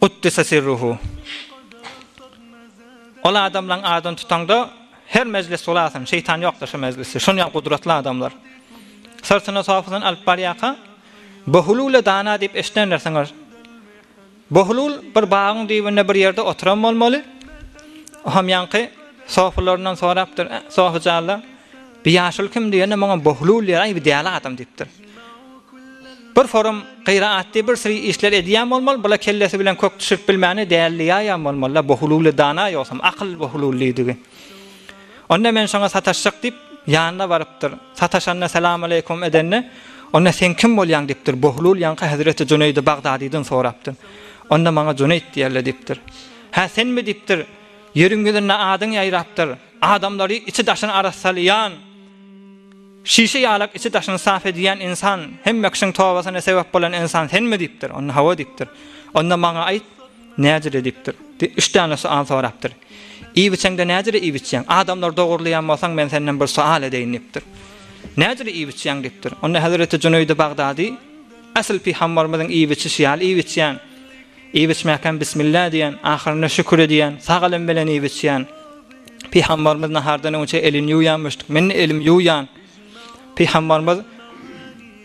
Guddise sirruhu. Ol adamlaň adyny tutaňda her mejlis bulasyn, şeýtan ýokdur şu mejlisde. Şonýal gudratly adamlar. Syrtyna sofydan alyp barýaka, Bohulule dana diýip eşidendirsiňiz. Bohulul bir bagyň düýbünde bir ýerde oturan bolmaly. Oham ýaňky sofylaryndan sorapdyr, Sofyjanlar, bi ýaşuly kim diýende, muňa Bohulul diýer, aý bi däli adam diýipdir. Bir forum gyra atdy bir sri işler edýän bolmaly bula kellesi bilen kök düşürip bilmäne däldi ýaýan bolmalyda bu hululi dana ýogsam akyl bu hululidigi onda men şoňa sataşjak diýip ýanyna barypdyr sataşanda salamaleýkum edende onda sen kim bolýaň diýipdir bu hulul ýaňky hezreti juneýdi bagdadydan sorapdyr onda maňa juneýt diýerler diýipdir hä senmi diýipdir ýeriň ýüzünde adyň ýaýrapdyr adamlary içi daşyny arassalýan Şişe ýalak içi daşyny sap edýän ynsan, hemme kişiň tobasyna sebäp bolan ynsan senmi? diýipdir. Onda hawa diýipdir. Onda maňa aýt, näjili diýipdir. Üç däne sual sorapdyr. Iýip içeňde näjili iýip içýäň? Adamlary dogurlaýan bolsaň men senden bir sual edeýin diýipdir. Näjili iýip içýäň diýipdir. Onda Hezreti Jüneýdi Bagdady, Äsl pygambarymyzyň iýip içişi ýaly iýip içýän. Iýip içmäkäm Bismillah diýen, ahyrynda şükür edýän, sag elim bilen iýip içýän. Pygambarymyz nahardan öňçe elini ýuwýanmyşdyk, men elimi ýuwýan. Pygambarymyz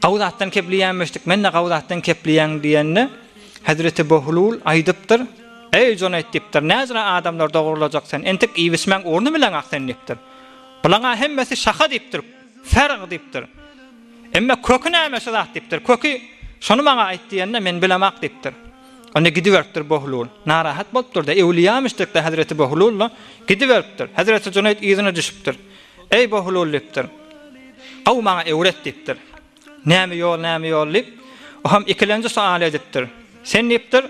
Gawy zatdan kepliýänmişdik, men-de gawy zatdan kepliýän diýende, Hezreti Bohlul aýdypdyr, Eý Joneýt diýipdir, näjra adamlar dogrulajak sen, entek iýip içmäň orny bileň-ak sen diýipdir. Bulaň-a hemmesi şaha diýipdir. Serg diýipdir. Emme köki näme şu zat diýipdir. Köki, Şony maňa aýt diýende, men bilemok diýipdir. Onda gidiberipdir Bohlul. Narahat bolupdyr-da, ewliýamyşdykda hezreti Bohlul-da, gidiberipdir. Hezreti Juneýt yzyna düşüpdir. Eý Bohlul diýipdir. Gowy maňa öwret diýipdir. Näme ýol, näme ýol diýip, o hem ikilenji sual edipdir. Sen diýipdir,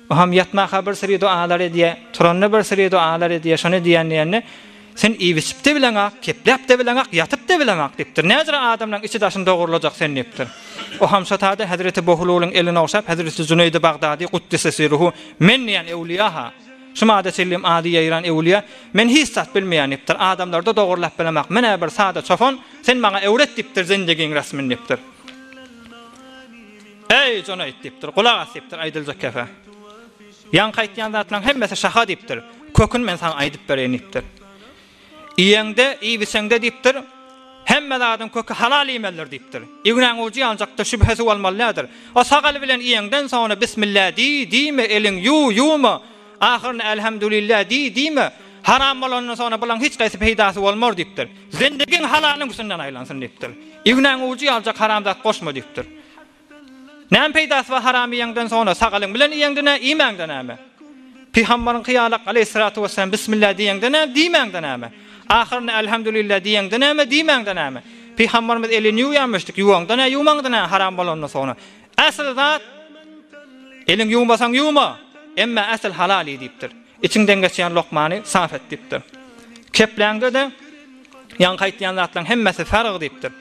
Oham ýatmaka bir syry doalar edýä, turanda bir syry doalar edýä, şony diýän diýende, Sen iýip-içip-de bileňak, kepläp-de bileňak, ýatyp-da bileňak diýipdir. Näzire adamlaň içi-daşyny dogurlajak sen diýipdir. Oham şo taýda hezreti Bohululyň elini ogşap, hezreti Jüneýdi Bagdady Guddise siruhu, Men diýen öwlüýa-ha, şu mada çenli-m ady ýaýran öwlüýä, men hiç zat bilmeýän diýipdir, adamlary-da dogurlap bilemak, men-ä bir sada çopan, sen maňa öwret diýipdir zendegiň resmin diýipdir. Eý, jon aýt! diýipdir. Gulak as! diýipdir. Aýdyljak gep-ä. Ýaňky aýtýan zatlaryň hemmesi şaha diýipdir. Köküni men saňa aýdyp bereýin diýipdir. Iýeňde, iýibiseňde diýipdir, hemme zadyň köki halal iýmelidir diýipdir. Ignäň ujy ýanjakdyr, şübhe suw almalydyr. O sag el bilen iýeňden soňra bismillä diý, diýme, eliň ýuw, ýuwma. Ahyryn Elhamdulillah diý diýme, haram bolandan soňra bulaň hiç gaýsy peýdasy bolmar diýipdir. Zendegiň halalyň üstünden aýlansyn diýipdir. Ignäň ujy ýaljak haram zat goşma diýipdir. Näme peýdasy bar haram iýeňden soňra, sagalyň bilen iýeňde nä, iýmäňde näme? Pygambaryňky ýalak aleýhissalatu wesselam bismillah diýeňde näme, diýmäňde näme? Ahyryn Elhamdulillah diýeňde näme, diýmäňde näme? Pygambarymyz elini ýuwýarmyşdyk, ýuwaňda nä, ýuwmaňda nä haram bolandan soňra? Asyl zat, Eliň ýuwmasaň ýuwma, emma asyl halal iý diýipdir. Içiňden geçýän lokmany sap et diýipdir. Kepläňde-de, Ýaňky aýtýan zatlaryň hemmesi farg diýipdir.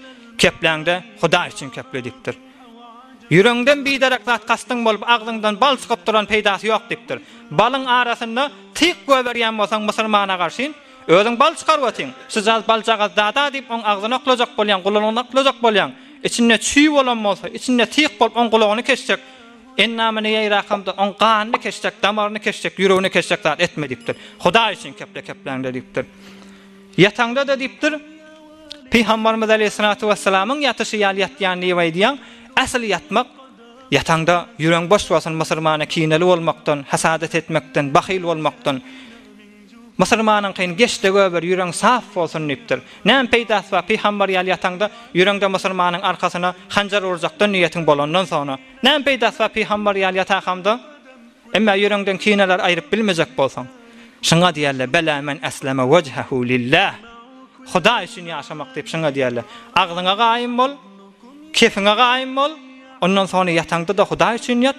Kepläňde Hudaý üçin keple diýipdir. Ýüregiňden biderek zat kastyň bolup, agzyňdan bal çykyp duran peýdasy ýok diýipdir. Balyň arasynda tyk goýberýän bolsaň musulmana garşyn, Özüň bal çykaryp otyň. Şujagaz baljagaz da-da diýip oň agzyny oklajak bolýaň, gulagyny oklajak bolýaň. Içinde çüý bolan bolsa, içinde tyk bolup oň gulagyny keşjek, endamyny ýaýrakamda oň ganyny keşjek, damaryny keşjek, ýüregini keşjek zat etme diýipdir. Hudaý üçin kepdekepläňde diýipdir. Ýataňda-da diýipdir, Pygambarymyz aleýhissalatu wessalamyň ýatyşy ýaly ýatýan diýip aýdýaň. Ähli ýatmak, ýataňda ýüregiň boş bolsun, musulmana kineli bolmakdan, hasadat etmekden, bahyl bolmakdan, Musulmanyňkyn geç-de göber, ýüreň saf bolsun diýipdir. Näme peýdasy bar, pygambar ýaly ýataňda, ýüreňde musulmanyň arkasyna hanjar urjakdan niýetiň bolandan soňra. Näme peýdasy bar pygambar ýaly ýatakamda, emma ýüreňden kineleri aýryp bilmejek bolsaň. Şuňa diýerler, Bela men esleme wejhehu lillah, Hudaý üçin ýaşamak diýip şuňa diýerler. Agzyňa gaýym bol, kefiňe gaýym bol, ondan soňra ýataňda-da Hudaý üçin ýat.